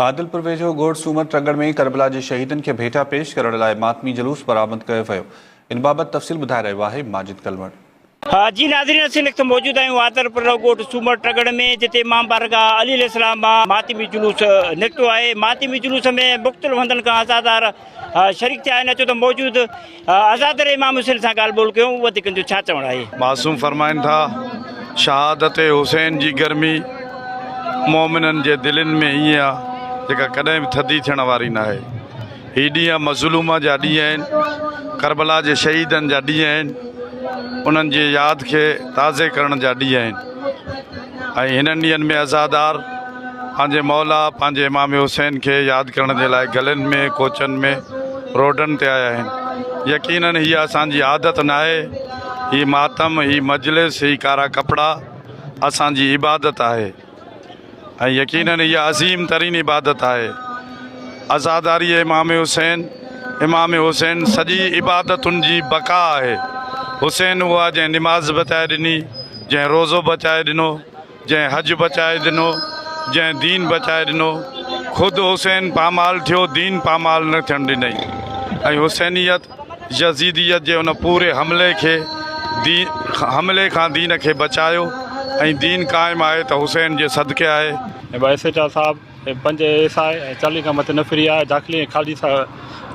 عادلپور ويجهو ڳوٺ سومر ٽڳڙ ۾ ڪربلا جي شهيدن کي ڀيٽا پيش ڪرڻ لاء ماتمي جلوس برآمد ڪيو ويو ان بابت تفصيل ٻڌائي رهيو آهي ماجد ڪلوڻ. جي ناظرين اسين وقت موجود آهيون عادلپور ڳوٺ سومر ٽڳڙ ۾ جتي امام بارگاهه علي عليه السلام مان ماتمي جلوس نڪتو آهي ماتمي جلوس ۾ مختلف هنڌن کان عزادار شريڪ ٿيا آهن اچو ته موجود آزاد رهي امام حسين سان ڳالهه ٻولهه ڪيون وڌيڪن جو ڇا چوڻ آهي. معصوم فرمائن ٿا شهادت حسين جي گرمي مومنن جي دلين ۾ ائين آ جيڪا ڪڏهن به ٿڌي ٿيڻ واري ناهي هي ڏينهن مظلوم جا ڏينهن آهن ڪربلا جي شهيدن جا ڏينهن آهن انهن جي ياد کي تازي ڪرڻ جا ڏينهن آهن. ۽ هنن ڏينهن ۾ عزادار پنهنجي مولا پنهنجي امام حسين کي ياد ڪرڻ جي لاء گلين ۾ ڪوچن ۾ روڊن تي آيا آهن يقيناً هيء اسان جي عادت ناهي هي ماتم هي مجلس هي ڪارا ڪپڙا اسان جي عبادت آهي ۽ يقيناً هيء عظيم ترين عبادت آهي عزاداري امام حسين امام حسين سڄي عبادتن جي بقا آهي حسين هو آهي جنهن نماز بتائي ڏني جنهن روزو بچائي ڏنو، جنهن حج بچائي ڏنو، جنهن دين بچائي ڏنو، خود حسين پامال ٿيو، دين پامال نه ٿيڻ ڏنئي ۽ حسينيت، يزيديت جي ان پوري حملي کي دين حملي کان دين کي بچايو ۽ دين قائم آهي ته حسين جي صدقي آهي. ۽ ٻه ايس ايچ آر صاحب ۽ پنج اي ايس آء ۽ چاليهه کان مٿي نه ڦري آيا، داخلي ۽ خارجي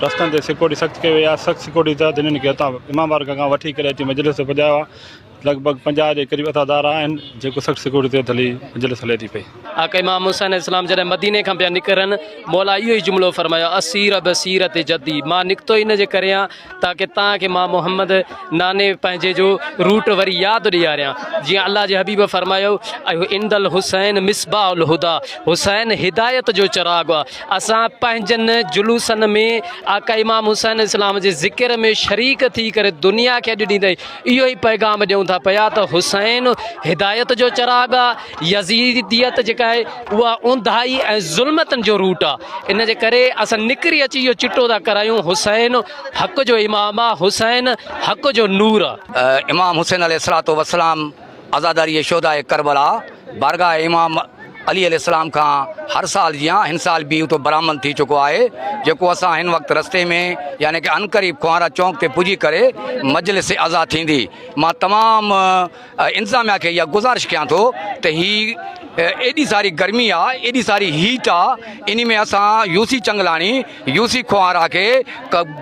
رستن تي سيڪورٽي سخت ڪئي وئي آهي، سخت سيڪورٽي تحت هنن کي هتان امام بارڪ کان وٺي ڪري اچي مجلس تي پڄايو آهي، لڳ ڀڳ پنجاهه جي قريب اتا دارا آهن جيڪو سخت سيڪيورٽي تحت هلي مجلس هلي ٿي پئي. آقا امام حسين اسلام جڏهن مديني کان پيا نڪرن مولا اهو ئي جملو فرمايو اسير بصيرت جدي مان نڪتو ان جي ڪري آهيان تاڪه توهان کي مان محمد ناني پنهنجي جو روٽ وري ياد ڏياريان جيئن الله جي حبيب فرمايو عند الحسين مصباح الهديٰ حسين هدايت جو چراغ آهي اسان پنهنجن جلوسن ۾ آقا امام حسين اسلام جي ذڪر ۾ شريڪ ٿي ڪري دنيا کي اڄ ڏيندي اهو ئي پيغام ڏيون ٿا پيا ته حسين هدايت جو چراغ آ، يزيديت جيڪا آهي اها اونداهي ۽ ظلمتن جو روٽ آ، ان جي ڪري اسان نڪري اچي اهو چٽو ٿا ڪرايون حسين حق جو امام آ، حسين حق جو نور آ. امام حسين عليه الصلوة والسلام عزاداريء شهداء ڪربلا بارگاهه امام علي عليه السلام کان هر سال جيان هن سال به اتو برآمد ٿي چڪو آهي جيڪو اسان هن وقت رستي ۾ يعني ڪه عنقريب کوهارا چونڪ تي پڄي ڪري مجلس عزا ٿيندي مان تمام انتظاميا کي اها گذارش ڪيان ٿو ته هي ايڏي ساري گرمي آ ايڏي ساري هيٽ آ انهي ۾ اسان UC Changlani U C Kohara کي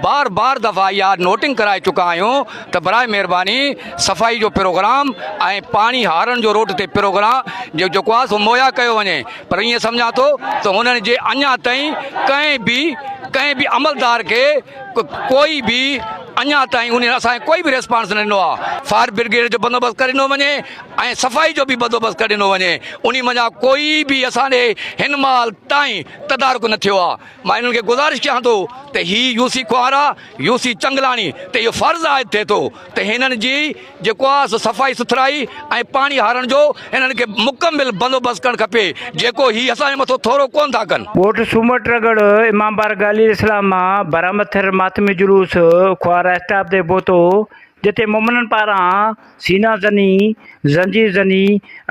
بار بار دفعا اها نوٽنگ ڪرائي چڪا آهيون ته برائي مهرباني صفائي جو پروگرام ۽ پاڻي هارڻ جو روڊ تي پروگرا جو جيڪو آهي سو مهيا ڪيو وڃي پر ائين سمجهان ٿو ته هنن جي اڃا تائين ڪنهن به ڪنهن به عملدار کي ڪوئي به اڃا تائين انهن اسان کي ڪوئي به ريسپانس نه ڏنو آهي فائر برگيڊ جو بندوبست ڪري ڏنو وڃي ۽ صفائي جو به بندوبست ڪري ڏنو وڃي انهي منجهان ڪوئي به اسان ڏي هن مهل تائين تدارڪ نه ٿيو آهي مان انهن کي گذارش ڪيان ٿو ته هي U C Kohara U C Changlani تي اهو فرض عائد ٿئي ٿو ته هنن جي جيڪو آهي سو صفائي سٿرائي ۽ پاڻي هارڻ جو هنن کي مڪمل بندوبست ڪرڻ کپي جيڪو هي اسان جي مٿو ٿورو ڪونه ٿا ڪن. ڳوٺ سومر ٽرڳڙ امام بارگاهه عليه السلام مان برآمد ٿيل ماتمي جلوس کوهارا اسٽاپ تي پهتو جتي مومنن پاران سينا زني، زنجير زني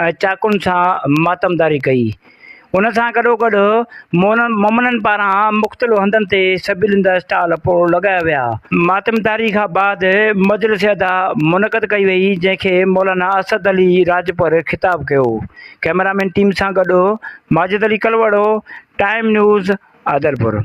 ۽ چاقن سان ماتمداري ڪئي. ان سان گڏوگڏ مومنن پاران مختلف هنڌن تي سبيلن جا اسٽال پڻ لڳايا ويا. ماتمداري کان بعد مجلس ادا منعقد ڪئي وئي جنهن کي مولانا اسد علي راڄپر خطاب ڪيو. ڪئميرامين ٽيم سان گڏ ماجد علي ڪلوڙو، ٽائيم نيوز، عادلپور.